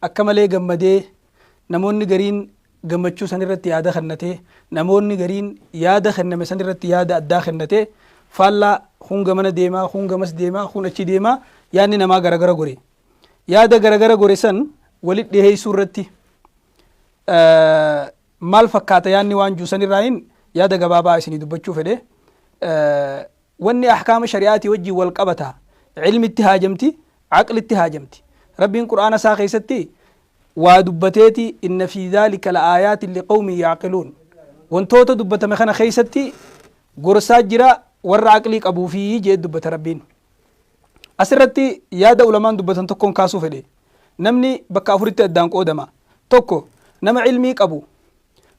Akka malee gammadee, namoonni gariin gammachuu san irratti yaada kennatee, namoonni gariin yaada kenname san irratti yaada addaa kennatee, faallaa kuun gamana deemaa, kuun gamas deemaa, kuun achi deemaa yaadni namaa garagara gore. Yaada garagara gore san walit dhiheessuu irratti maal fakkaata yaadni waan jiru san irraayin yaada gabaabaa isinii dubbachuu fedhe. Wanni ahkaama shari'aatii wajjiin wal qabata. Ilmitti haajamti, aqlitti haajamti. Rabbiin Qur'aana isaa keessatti waa dubbateeti, Inna fii zaalika la'aayaatin liqawmin ya'qiluun. Wantoota dubbatame kana keessatti gorsaa jira warra aqlii qabuufi jee dubbata Rabbiin. Asirratti yaada ulamaan dubbatan tokkoon kaasuu fedhe. Namni bakka afuritti addaan qoodama. Tokko, nama ilmii qabu,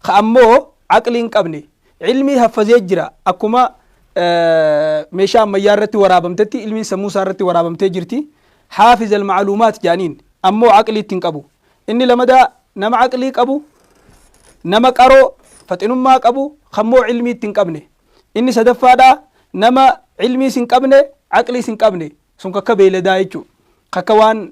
Ka ammoo aqlii hin qabne, ilmii haffazee jira. Akkuma meeshaa ammayyaa irratti waraabamtetti ilmiin sammuu isaa irratti waraabamtee jirti. Haafiz al-ma'luumaat jedhaniin. Ammoo aqlii itti hin qabu. Inni lamadaa nama aqlii qabu, nama qaroo, faxinummaa qabu, kammoo ilmii itti hin qabne. Inni sadaffaadhaa nama ilmiis hin qabne, aqliis hin qabne. Sun kakka beeyladaa jechuudha. Kakka waan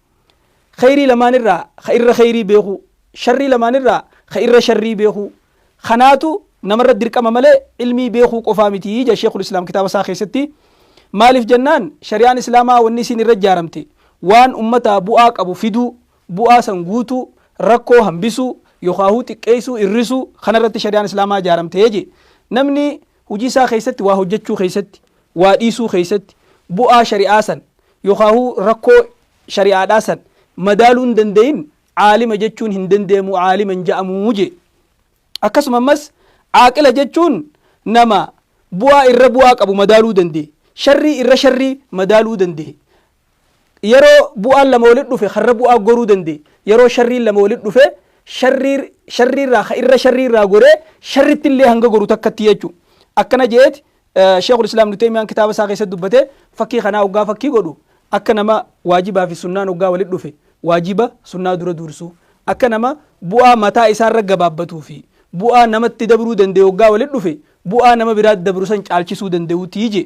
Kheyrii lamaan irraa ka irra kheyrii beekuu, sharrii lamaan irraa ka irra sharrii beekuu kanaatu nama irratti dirqama malee ilmii beekuu qofaa miti jedha Sheekhul Islaam kitaaba isaa keessatti. Maaliif jennaan shari'aan Islaamaa wanni isiin irra ijaaramte waan ummataa bu'aa qabu fiduu, bu'aa san guutuu, rakkoo hambisuu, yokhaahuu xiqqeessuu, irrisuu kana irratti shari'aan Islaamaa ijaaramte jedhe. Namni Hujii isaa keessatti waa hojjachuu keessatti, waa dhiisuu keessatti, bu'aa shari'aa san yookaahuu rakkoo shari'aadhaa san madaaluu hin dandayin caalima jechuun hin dandeemu caalima hin ja'amu je. Akkasuma ammas caaqila jechuun nama bu'aa irra bu'aa qabu madaaluu danda'e, sharrii irra sharrii madaaluu danda'e, Yeroo bu'aan lama walitti dhufe karra bu'aa goruu danda'e. Yeroo sharriin lama walitti dhufe sharrii sharrii irraa ka irra sharrii irraa goree sharritti illee hanga goru takkatti jechu. Akkana je'eeti Sheekhul Islaam Ibnu Teymiyaan kitaaba isaa keessatti dubbate fakkii kanaa hoggaa fakkii godhu akka nama waajibaa fi sunnaan hoggaa walitti dhufe waajiba sunnaa dura duursuu akka nama bu'aa mataa isaa irra gabaabbatuu fi bu'aa namatti dabruu danda'e hoggaa walitti dhufe bu'aa nama biraatti dabru san caalchisuu danda'uutii je'e.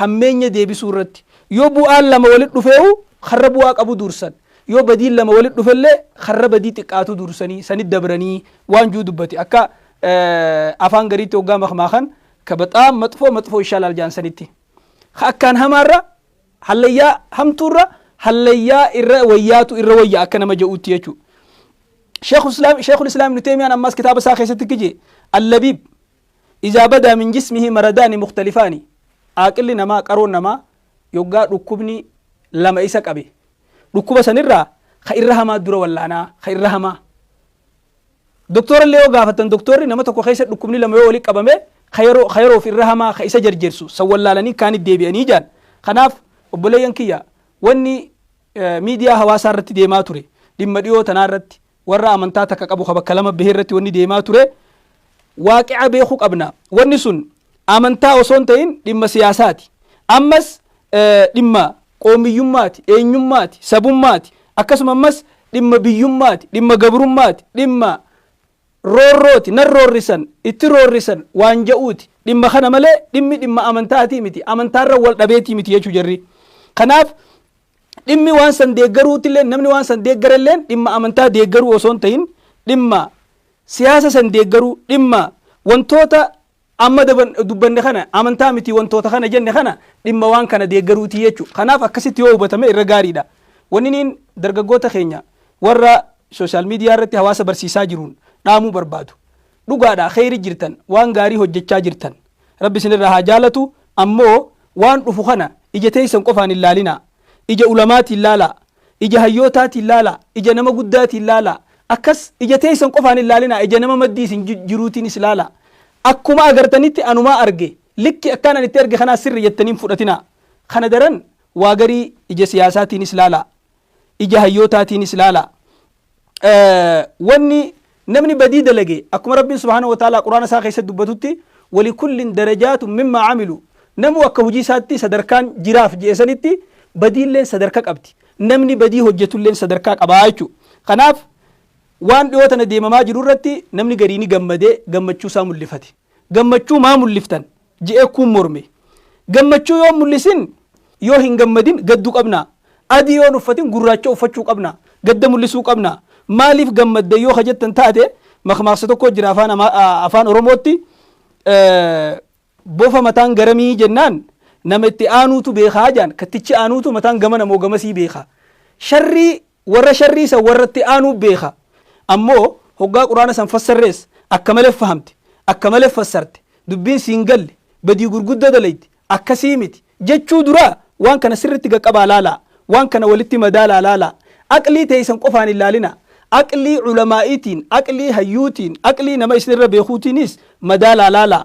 hammeenya deebisuu irratti yoo bu'aan lama walitti dhufeeuu karra bu'aa qabu duursan yoo badiin lama walitti dhufellee karra badii xiqqaatu duursanii sanit dabranii waan juu dubbate akka afaan gariitti hoggaa makmaakan ka baxaam maxfoo maxfoo ishaalaal jaan sanitti ka akkaan hamaarra hallayyaa hamtuurra hallayyaa irra wayyaatu irra wayya akka nama ja'uutti jechuu sheekul islaam ibnu teemiyaan ammaas kitaaba isaa keessatti kije allabiib Izaa badaa min jismihi maradaani mukhtalifaani, Aaqilli namaa, qaroon namaa, yoggaa dhukkubni lama isa qabe, dhukkuba san irraa ka irra hamaa dura wallaana, ka irra hamaa. Doktoora illee yoo gaafattan doktoorri nama tokko keessa dhukkubni lama yoo walitti qabame ka yeroo, ka yeroof irra hamaa ka isa jerjersu san wallaalanii kaanit deebi'anii ja'an. Kanaaf obboleeyyan kiyya wanni miidiyaa hawaasaa irratti deemaa ture dhimma dhiyoo tanaa irratti, warra amantaa takka qabu ka bakka lama bahee irratti wanni deemaa ture waaqica beekuu qabna wanni sun amantaa osoo hin ta'in dhimma siyaasaati ammas eh, dhimma qoomiyyummaati eenyummaati sabummaati akkasuma ammas dhimma biyyummaati dhimma gabrummaati dhimma roorrooti nan roorrisan itti roorrisan waan ja'uuti dhimma kana malee dhimmi dhimma amantaatii miti amantaarra wal dhabeetii miti jechuu jarri kanaaf Dhimmi waan san deeggaruutilleen namni waan san deeggarelleen dhimma amantaa deeggaruu osoo hin tahin dhimma siyaasa san deeggaruu dhimma wantoota amma daban- dubbanne kana amantaa miti wantoota kana jenne kana dhimma waan kana deeggaruutii jechuudha. Kanaaf akkasitti yoo hubatame irra gaariidha. Wanni niin dargaggoota keenya warra sooshaal miidiyaa irratti hawaasa barsiisaa jiruun dhaamuu barbaadu. dhugaadha kheeyri jirtan waan gaarii hojjachaa jirtan rabbi isin irraa haa jaalatu ammoo waan dhufu kana ija teeysan qofaan hin laalinaa ija ulamaatiin laalaa ija hayyootaatiin laalaa ija nama guddaatiin laalaa akkas ija teeysan qofaan hin laalinaa ija nama maddii isin jiruutiinis laalaa akkuma agartanitti anumaa arge likki akkaan ani itti arge kanaa sirri jettaniin fudhatinaa kana daran waa garii ija siyaasaatiinis laalaa ija hayyootaatiinis laalaa. Wanni namni badii dalage akkuma Rabbiin subhaanahu wa ta'aalaa Qur'aana isaa keessatti dubbatutti walikullin darajaatun mimmaa camilu namuu akka hojii isaatti sadarkaan jiraaf je'e sanitti badiilleen sadarka qabdi. Namni badii hojjetulleen sadarkaa qabaa jechuudha. Kanaaf waan dhiyoo tana deemamaa jiru irratti namni garii ni gammade gammachuu isaa mul'ifate. gammachuu maa mulliftan? je'ee kuun morme. Gammachuu yoo hin mullisin yoo hin gammadin gaddu qabnaa? Adii yoo hin uffatin gurraacha uffachuu qabnaa? Gadda mullisuu qabnaa? Maaliif gammaddan yoo ka jettan taate makmaaksa tokkoo jira afaan, afaan Oromootti bofa mataan garamii jennaan nama itti aanuutu beekaa jaan kattichi aanuutu mataan gamana moo gamasii beekaa. Sharrii Warra sharrii san warra itti aanuu beekha. Ammoo hoggaa Qur'aana san fassarrees akka malee fahamte, akka malee fassarte, dubbiin si hin galle, badii gurguddoo dalayde, akkasii miti jechuu dura waan kana sirritti gaqqabaa laalaa, waan kana walitti madaalaa laalaa. Aqlii teeysan qofaan hin laalinaa. Aqlii ulamaa'iitiin, aqlii hayyuutiin, aqlii nama isinirra beekhuutiiniis madaalaa laalaa.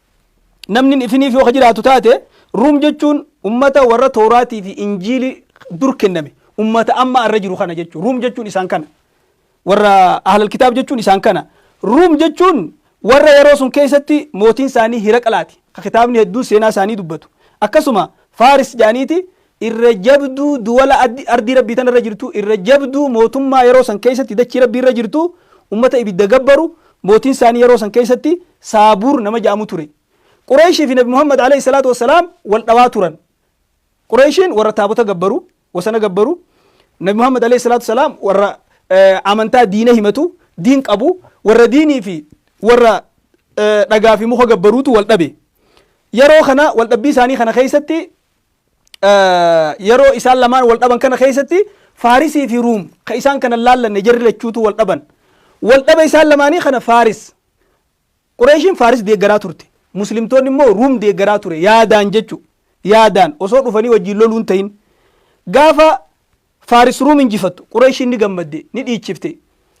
namni ifiniif yoo ka jiraatu taate ruum jechuun ummata warra tooraatii fi injiili dur kenname ummata amma irra jiru kana jechuun ruum jechuun isaan kana warra ahlal kitaab jechuun isaan kana ruum jechuun warra yeroo sun keessatti mootiin isaanii hiraqlaati ka kitaabni hedduun seenaa isaanii dubbatu akkasuma faaris jaaniiti irra jabduu duwala ardii Rabbii tana irra jirtuu, irra jabduu mootummaa yeroo san keessatti dachii Rabbii irra jirtu, ummata ibidda gabbaru, mootiin isaanii yeroo san keessatti Saabuur nama ja'amu ture. Qureeyshii fi Nabi Muhammad aleyh salaatu wa salaam wal dhawaa turan. Qureeyshiin warra taabota gabbaru, wasana gabbaru, Nabi Muhammad aleyh salaatu wa salaam warra amantaa diina himatu, diin qabu, warra diinii fi warra dhagaa fi muka gabbaruutu wal dhabe. Yeroo kana wal dhabbii isaanii kana keessatti yeroo isaan lamaan wal dhaban kana keessatti Faarisii fi Ruum ka isaan kana laallanne jarri lachuutu wal dhaban. Wal dhaba isaan lamaanii kana Faaris. Qureeshiin Faaris deeggaraa turte. Muslimtoonni immoo Ruum deeggaraa ture yaadaan jechu yaadaan osoo dhufanii wajjin loluun ta'in. Gaafa Faaris Ruum injifattu Qureeshiin ni gammadde ni dhiichifte.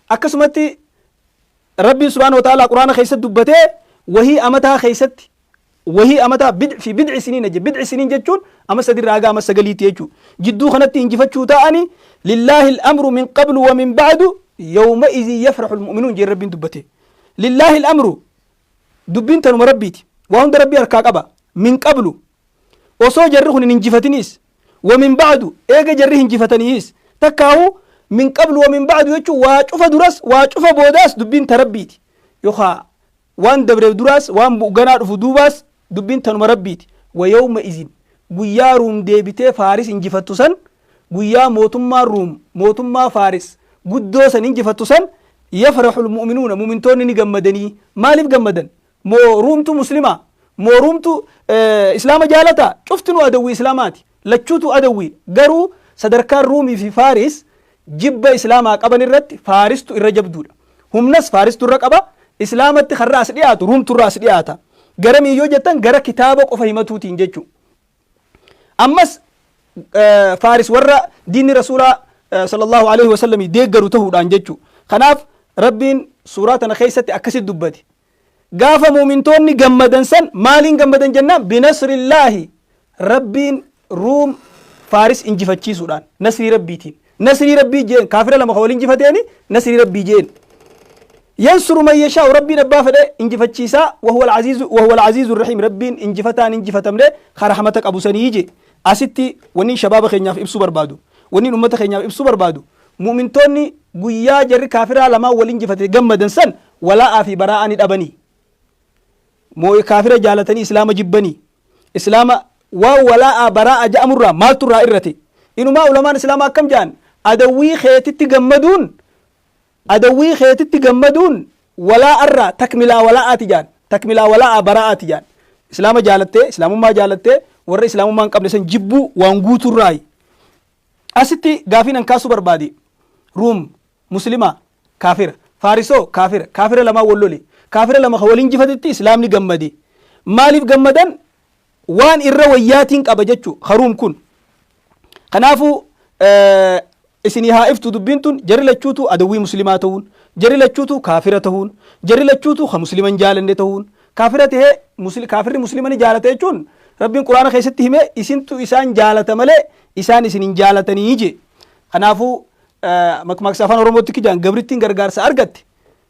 Akkasumatti Rabbiin subhaanahu wa ta'aalaa quraana keessatti dubbatee wahii amataa keessatti wahii amataa bid fi bid'i siniina je bid'i siniin jechuun ama sadi irraa haga ama sagaliitti jechuu jidduu kanatti injifachuu ta'ani lillaahi al-amru min qablu wa min ba'du yawma izin yafrahu al-mu'minuun jeen rabbiin dubbate lillaahi al-amru dubbiin tanuma rabbiiti waa hunda rabbii harkaa qaba min qablu osoo jarri kun hin injifatiniis wa min ba'du eega jarri hinjifataniis takkaahu min qablu wa min ba'du jechuun waa cufa duras waa cufa boodaas dubbiin ta rabbiiti yookaa Waan dabreef duraas, waan bu'u ganaa dhufu duubaas, dubbiin tanuma Rabbiiti. Wa yawma izin, guyyaa Ruum deebitee Faaris injifattu san, guyyaa mootummaan Ruum mootummaa Faaris guddoo san injifattu san, yafraxul mu'minuuna, mu'mintoonni ni gammadanii. Maaliif gammadan? Moo Ruumtu Muslimaa? Moo Ruumtu Islaama jaalataa? Cuftinuu adawwii Islaamaati. Lachuutuu adawwiidha. Garuu sadarkaan Ruumii fi Faaris jibba Islaamaa qaban irratti Faaristu irra jabduudha. Humnas Faaristu irra qaba. Islaamatti karra as dhiyaatu Ruumtu irra as dhiyaata. Garamiin yoo jettan gara kitaaba qofa himatuutiin jechu. Ammas Faaris warra diinni Rasuulaa sallallahu alaihi wasallamii deeggaru tahuudhaan jechu. Kanaaf Rabbiin suuraa tana keessatti akkasitti dubbate. Gaafa mu'mintoonni gammadan san maaliin gammadan jennaan binasrillaahi Rabbiin Ruum Faaris injifachiisuudhaan nasrii Rabbiitiin. Nasrii Rabbii jeen kaafira lama ka wal injifateeni nasrii Rabbii jeen. Yansuru man yashaa'u Rabbiin abbaa fedhe injifachiisaa wahuwal aziizu wahuwal aziizu rahiim Rabbiin injifataan injifatamne ka rahmata qabu sanii je. Asitti wanniin shabaaba keenyaaf ibsuu barbaadu wanniin ummata keenyaaf ibsuu barbaadu Mu'mintoonni guyyaa jarri kaafiraa lamaan wal injifate gammadan san walaa'aa fi baraa'aa ni dhabanii? Moo kaafira jaalatanii Islaama jibbanii? Islaama waan walaa'aa baraa'a ja'amurraa maaltu irraa irrate? Inumaa ulamaan Islaamaa akkam ja'an? Adawwii keetitti gammaduun adawwii keetitti gammaduun walaa'arraa takmilaa walaa'aati ja'an. Takmilaa walaa'aa baraa'aati ja'an. Islaama jaalattee, Islaamummaa jaalattee warra Islaamummaa hin qabne san jibbuu waan guuturraayi. Asitti gaafiin an kaasuu barbaade Ruum Muslima kaafira Faarisoo kaafira kaafira lamaan wal lole kaafira lama kan wal injifatetti Islaamni gammade maaliif gammadan waan irra wayyaatiin qaba jechuu ka Ruum kun kanaafu isinii haa iftu dubbiin tun jarri lachuutu adawwii muslimaa ta'uun jarri lachuutu kaafira ta'uun jarri lachuutu ka musliman jaalanne ta'uun Kaafira tahee musli kaafirri muslima ni jaalata jechuun Rabbiin Qur'aana keessatti hime isintu isaan jaalata malee isaan isin hin jaalatanii jee. Kanaafuu eh, makmaaksa afaan Oromootti akka jaan gabrittiin gargaarsa argatte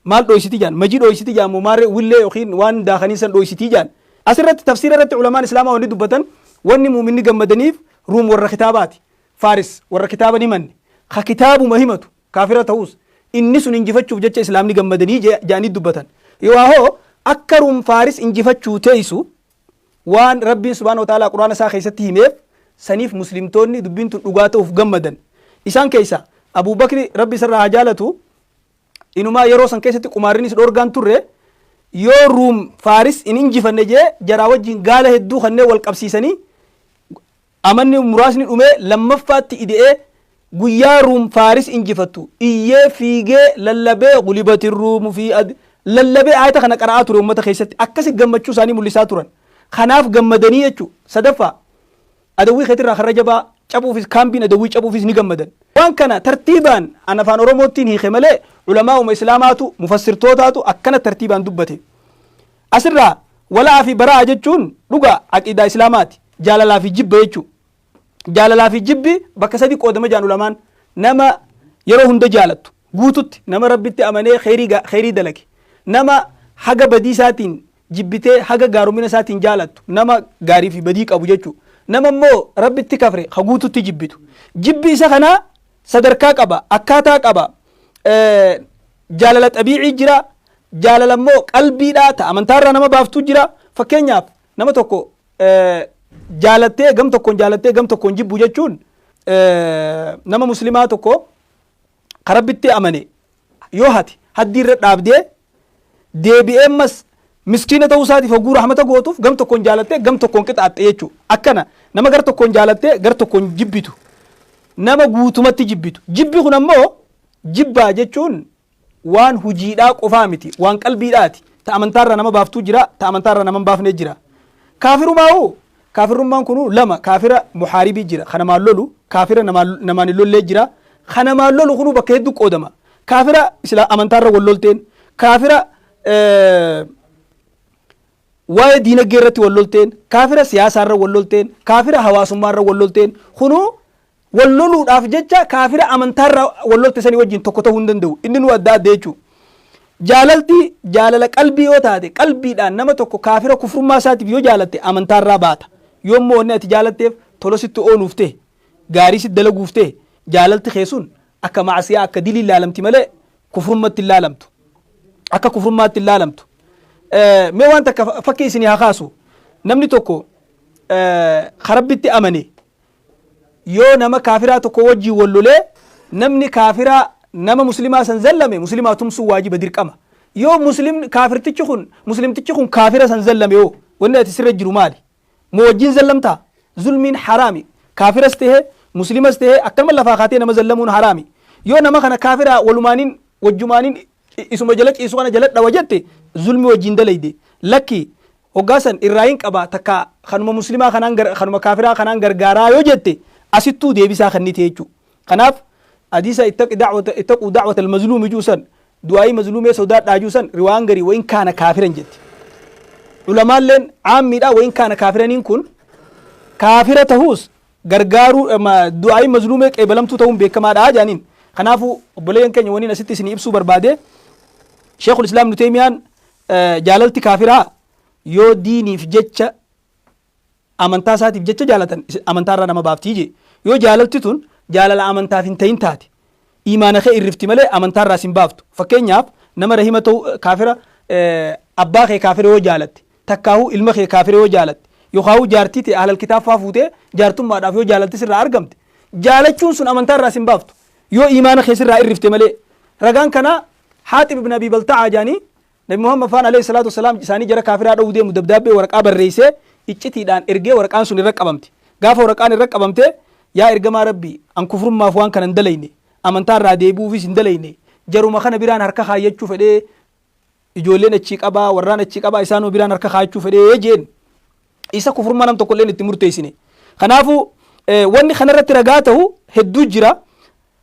maal dhooysiti jaan majii dhooysiti jaan moo maarree willee yookiin waan daakanii san dhooysitii jaan. Asirratti tafsiira irratti ulamaan islaamaa wanni dubbatan wanni muuminni gammadaniif ruum warra kitaabaati. Faaris warra kitaaba ni manne. Ka kitaabuma himatu kaafira ta'us, inni sun injifachuuf jecha Islaamni gammadanii je, ja'anii dubbatan. Yoohoo akka Ruum Faaris injifachuu teeysu waan Rabbiin subhaanahu wa ta'aalaa Qur'aana isaa keessatti himeef saniif Muslimtoonni dubbiin tun dhugaa ta'uuf gammadan. Isaan keeysa Abuu Bakri Rabbi isarraa haa jaalatu inumaa yeroo san keessatti qumaarrinis dhoorgaan turre yoo Ruum Faaris hin injifanne jee jaraa wajjin gaala hedduu kanneen wal qabsiisanii Amanni muraasni dhumee lammaffaatti ide'ee guyyaa Ruum Faaris injifattu iyyee fiigee lallabee Ghulibatir Ruumu fii ad lallabee aayata kana qara'aa ture ummata keessatti akkasi gammachuu isaanii mul'isaa turan kanaaf gammadanii jechuu sadaffaa adawwii keetirraa karra jabaa cabuufis kaambiin adawwii cabuufis ni gammadan waan kana tartiibaan an afaan oromoottiin hiike malee ulamaa'uma islaamaatu mufassirtootaatu akkana tartiibaan dubbate As irraa wala'aa fi bara'aa jechuun dhugaa aqiidaa islaamaa ti. Jaalalaa fi jibba jechuu. Jaalalaa fi jibbi bakka sadi qoodama jedhan ulamaan. Nama yeroo hunda jaalattu, guututti, nama Rabbitti amanee kheyrii ga, kheyrii dalage. Nama haga badii isaatiin jibbitee haga gaaromina isaatiin jaalattu, nama gaarii fi badii qabu jechuu. Nama immoo Rabbitti kafre ka guututti jibbitu. Jibbi isa kanaa sadarkaa qaba, akkaataa qaba. Jaalala xabiicii jira, Jaalala immoo qalbiidhaa ta amantaa irraa nama baaftuu jira. Fakkeenyaaf nama tokko jaalattee gam tokkoon jaalattee gam tokkoon jibbu jechuun nama muslimaa tokko ka rabbitti amane yoo hate haddii irra dhaabdee deebi'ee ammas miskiina ta'uu isaatiif hogguu rahmata gootuuf gam tokkoon jaalattee gam tokkoon qixaaxxe jechuudha. Akkana nama gar tokkoon jaalattee gar tokkoon jibbitu nama guutumatti jibbitu. Jibbi kun ammoo jibbaa jechuun waan hujiidhaa qofaa miti waan qalbiidhaati ta amantaarraa nama baaftuu jira ta amantaarraa nama hin baafne jira kaafirumaa'u kaafirummaan kunuu lama kaafira muhaaribii jira ka namaan lolu kaafira namaan namaan hin lollee jira ka namaan lolu kunuu bakka hedduu qoodama kaafira isla amantaarra wal lolteen kaafira eh, waa'ee diinagdee irratti wal lolteen kaafira siyaasaarra wal lolteen kaafira hawaasummaarra wal lolteen kunuu Wal loluudhaaf jecha kaafira amantaa irra wal lolte sanii wajjin tokko ta'uu hin danda'u. Inni nuu adda adda jechuu. Jaalalti jaalala qalbii yoo taate qalbiidhaan nama tokko kaafira kufrummaa isaatiif yoo jaalatte amantaa irraa baata. Yoo immoo wanni ati jaalatteef tola sitti ooluuf ta'e, gaarii sitti dalaguuf ta'e jaalalti kee sun akka ma'asiyaa akka dilii laalamti malee kufrummatti hin laalamtu. Akka kufrummaatti hin laalamtu. Mee waan takka fakkii isinii haa kaasu. Namni tokko ka Rabbitti amane yoo nama kaafiraa tokko wajjiin wal lolee namni kaafiraa nama muslimaa san zallame muslimaa tumsuu waajiba dirqama yoo muslim kaafirtichi kun muslimtichi kun kaafira san zallame yoo wanni ati sirra jiru maali moo wajjiin zallamtaa zulmiin haraami kaafiras ta'e muslimas ta'e akkanuma lafaa kaatee nama zallamuun haraami yoo nama kana kaafiraa walumaaniin wajjumaanin I- isuma jala ciisu kana jala dhawa jette zulmi wajjin dalayde lakki hoggaa san irraa hin qaba takka kanuma muslimaa kanaan gar- kanuma kaafiraa kanaan gargaaraa yoo jette asittuu deebisaa kennite jechuu kanaaf hadiisa ittaqi da'wata ittaquu da'wata almazluumi juu san du'aa'ii mazluumee sodaadhaa juu san riwaan garii wayin kaana kaafiran jette ulamaalleen caammiidha wayin kaana kaafiraniin kun kaafira tahuus gargaaruu du'aa'iin mazluumee qeebalamtuu ta'uun beekamaadha jedhaniin. Kanaafuu obboleeyyan keenya waniin asitti isinii ibsuu barbaade Sheekul Islaam Ibnu Teeymiyaan jaalalti kaafiraa yoo diiniif jecha amantaa isaatiif jecha jaalatan amantaa irraa nama baaftii jee yoo jaalalti tun jaalala amantaaf hin ta'in taate imaana kee irrifti malee amantaa irraa sin baaftu fakkeenyaaf nama rahima ta'u kaafira abbaa kee kaafira yoo jaalatte Takkaahuu ilma kee kaafira yoo jaalatte, yookaahuu jaartii tee ahlal kitaab faa fuutee jaartummaadhaaf yoo jaalalti sirraa argamte, jaalachuun sun amantaa irraa sin baaftu, yoo iimaana kee sirraa irrifte malee. Ragaan kanaa Haaxib ibn Abii Balta'aa jedhanii, Nabi Muhammad faan aleyh salaatu wassalaam isaanii jara kaafiraa dhowuu deemu dabdaabbee waraqaa barreeysee iccitiidhaan ergee waraqaan sun irra qabamte. Gaafa waraqaan irra qabamte, Yaa Ergamaa Rabbii! An kufrummaaf waan kana hin dalayne, amantaa irraa deebi'uufis hin dalayne, jaruma kana biraan harka kaayyachuu fedhee ijoolleen achii qabaa, warraan achii qabaa isaanuma biraan harka kaa'achuu fedhee jeen isa kufurmaa nam tokkolleen itti murteessine. Kanaafu eh, wanni kanarratti ragaa ta'u hedduu jira.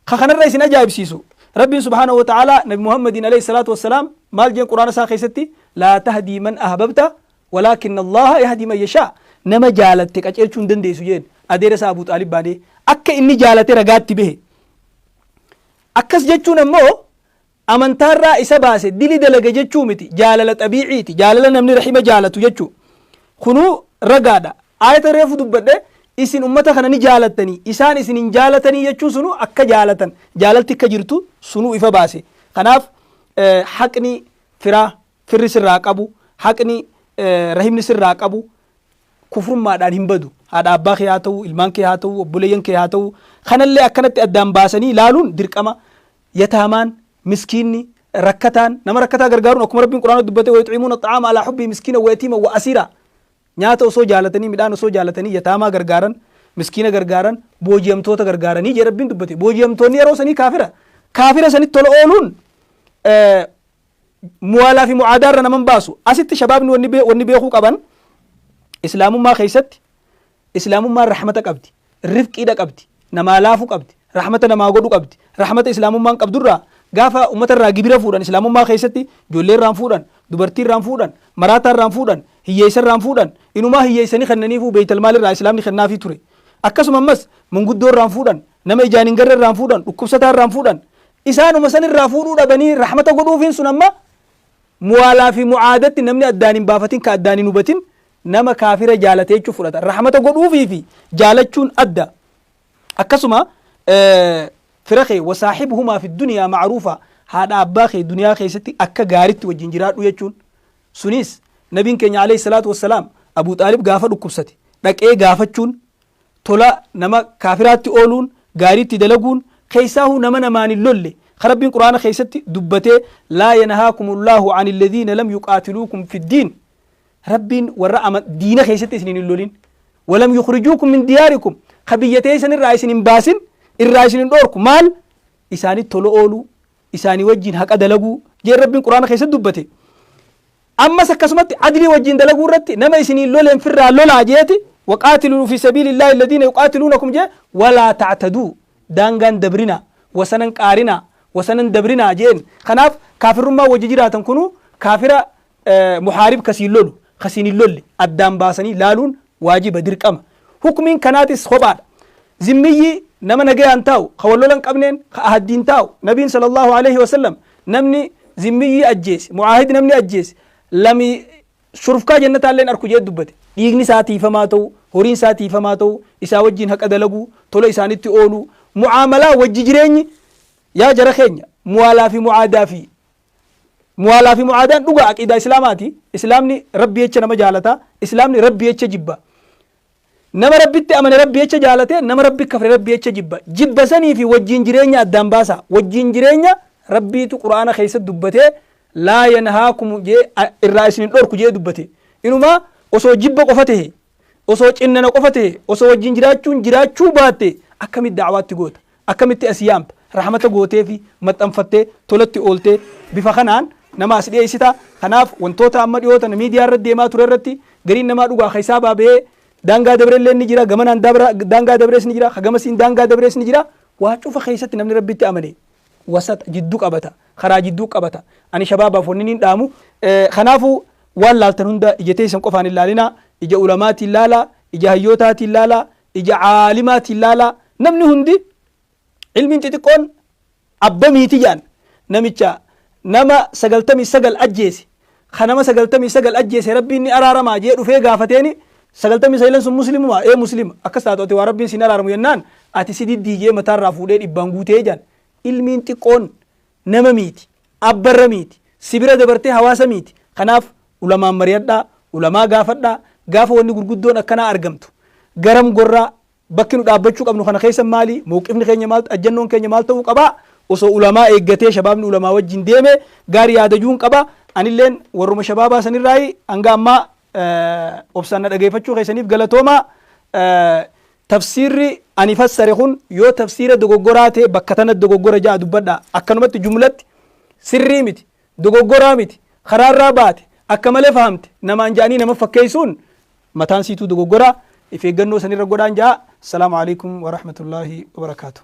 Ka kanarra isin ajaa'ibsiisu Rabbiin subhaanahu wa ta'aalaa Nabi Muhammadiin alayhi salaatu wassalaam maal jeen quraana isaa keessatti laa tahdii man ahbabta walaakin Allaha yahdii man yashaa nama jaalatte qaceelchuu hin dandeessu jeen adeera isaa Abuu Xaalib baadee akka inni jaalate ragaatti bahe. Akkas jechuun ammoo Amantaarraa isa baase dili dalage jechuu miti jaalala xabiiciiti jaalala namni rahima jaalatu jechuu kunuu ragaadha aayata reefu dubbadhe isin ummata kana ni jaalattanii isaan isin hin jaalatanii jechuun sunuu akka jaalatan jaalalti akka jirtu sunuu ifa baase kanaaf haqni firaa firri sirraa qabu haqni rahimni sirraa qabu kufrummaadhaan hin badu haadha abbaa kee haa ta'u ilmaan kee haa ta'u obboleeyyan kee haa ta'u kanallee akkanatti addaan baasanii ilaaluun dirqama Yataamaan, miskiinni, rakkataan, nama rakkataa gargaaruun akkuma Rabbiin Qur'aanatti dubbate wayuxiimuuna axxa'aama alaa xubbii miskiinan wayatiiman wa'asiiraa nyaata osoo jaalatanii midhaan osoo jaalatanii yataamaa gargaaran miskiina gargaaran booji'amtoota gargaaranii jee Rabbiin dubbate booji'amtoonni yeroo sanii kaafira kaafira sanitti tola ooluun muwaalaa fi mu'aadaa irra naman baasu asitti shabaabni wanni beekuu qaban islaamummaa keessatti Islaamummaan rahmata qabdi, rifqiidha qabdi, namaa laafu qabdi, rahmata namaa godhu qabdi. Rahmata Islaamummaan qabdurraa gaafa ummatarraa gibira fuudhan Islaamummaa keessatti ijoolleerraan fuudhan, dubartiirraan fuudhan, maraataarraan fuudhan, hiyyeessarraan fuudhan, inumaa hiyyeessanii kennaniifuu beeytal maalirraa Islaamni kennaafii ture. Akkasuma ammas manguddoorraan fuudhan, nama ijaan hin garrerraan fuudhan, dhukkubsataarraan fuudhan. Isaanuma sanirraa fuudhuu dhabanii rahmata godhuufiin sun amma muwaalaa fi mu'aadatti namni addaan hin baafatin ka addaan hin hubatin Nama kaafira jaalatee jechuun fudhata. Rahmata godhuufii fi jaalachuun adda. Akkasuma fira kee wasaaxibuhumaa fi duniyaa macruufa haadha abbaa kee duniyaa keessatti akka gaaritti wajjin jiraadhu jechuun sunis nabiin keenya alayhi salaatu wassalaam Abuu Xaalib gaafa dhukkubsate dhaqee gaafachuun tola nama kaafiraatti ooluun gaariitti dalaguun keessaahuu nama namaan hin lolle ka rabbiin quraana keessatti dubbatee laa yanhaakumullahu an alladhiina lam yuqaatiluukum fiddiin Rabbiin warra ama diina keessatti isiniin hin lolin. Walam yukhrijuukum min diyaarikum. Ka biyya teessan irraa isin hin baasin, irraa isin hin dhoorku. Maal? Isaanitti tola ooluu, isaanii wajjin haqa dalaguu. Jee Rabbiin Qur'aana keessatti dubbate. Ammas akkasumatti adlii wajjin dalaguu irratti nama isiniin loleen firraa lolaa jeeti. Waqaatiluu fi sabiilillaahi alladhiina yuqaatiluunakum jee walaa ta'taduu. Daangaan dabrina, wasanan qaarina, wasanan dabrina jeen. Kanaaf kaafirrummaa wajji jiraatan kunuu kaafira muhaarib ka siin lolu ka siin hin lolle addaan baasanii laaluun waajiba, dirqama. Hukmiin kanaatis kophaadha. Zimmiyyii nama nagayaan taa'u ka wal lola hin qabneen ka ahaddiin taa'u nabiin sallallahu aleyhi wa sallam namni zimmiyyii ajjeese mu'aahid namni ajjeese lami shurfkaa jannataalleen arku jedhe dubbate dhiigni isaa tiifamaa ta'u horiin isaa tiifamaa ta'u isaa wajjin haqa dalaguu tola isaanitti ooluu mu'aamalaa wajji jireenyi yaa jara keenya muwaalaa fi mu'aadaa fi Muwaalaa fi mu'aadaan dhugaa aqiidaa Islaamaati. Islaamni Rabbi jecha nama jaalata. Islaamni Rabbi jecha jibba. Nama Rabbitti amane Rabbi jecha jaalate, nama Rabbi kafre Rabbi jecha jibba. Jibba sanii fi wajjiin jireenya addaan baasaa. Wajjiin jireenya Rabbiitu Qur'aana keessatti dubbatee laa yanhaakumu jee irraa isin hin dhorku jee dubbate. Inumaa osoo jibba qofa tahe Osoo cinnana qofa ta'ee, osoo wajjin jiraachuun jiraachuu baatte akkamitti da'awaatti goota? Akkamitti as yaamta? Rahmata gooteefi maxxanfattee tolatti ooltee bifa kanaan nama as dhiyeessita. Kanaaf wantoota amma dhiyoo tana miidiyaa irratti deemaa ture irratti gariin namaa dhugaa keessaa baaba'ee daangaa dabrellee ni jira, gamanaan daangaa dabrees ni jira, ka gamasiin daangaa dabrees ni jira. Waa cufa keessatti namni Rabbitti amane wasata, jiddu qabata, karaa jidduu qabata. Ani shabaabaaf wannin hin dhaamu, kanaafuu waan laaltan hunda ija teessan qofaan hin laalinaa, ija ulamaatiin laalaa, ija hayyootaatiin laalaa, ija aalimaatiin laalaa. Namni hundi ilmiin xixiqqoon abbamiiti jedhan. Namicha nama 99 ajjeese ka nama sagaltamii sagal ajjeese rabbiin ni araaramaa jee dhufee gaafateeni sagaltamii sahilan sun muslimumaa ee muslima akkas taatu ati waa rabbiin sin araaramu jennaan ati si diddii jee mataarraa fuudhee dhibbaan guutee jaan ilmiin xiqqoon nama miiti abbarra miiti si bira dabartee hawaasa miiti kanaaf ulamaan mariyadhaa ulamaa gaafadhaa gaafa wanni gurguddoon akkanaa argamtu garam gorraa Bakki nu dhaabbachuu qabnu kana keessa maali? Mowqifni keenya maal, ajjannoon keenya maal ta'uu qaba? Osoo ulamaa eeggatee shabaabni ulamaa wajjin deeme gaari yaada juun qaba. Anilleen warruma shabaabaa sanirraayi. Hanga ammaa obsaan na dhageeffachuu keessaniif galatoomaa. Tafsiirri ani fassare kun yoo tafsiira dogoggoraa ta'e bakka tanatti dogoggora ja'a dubbadha. Akkanumatti jumlatti sirrii miti. Dogoggoraa miti. Karaa irraa baate. Akka malee fahamte. Namaan ja'anii nama fakkeessuun mataan siituu dogoggora. If eeggannoo san irra godhaan ja'a. Assalaamu alaikum wa rahmatullaahi wa barakaatuh.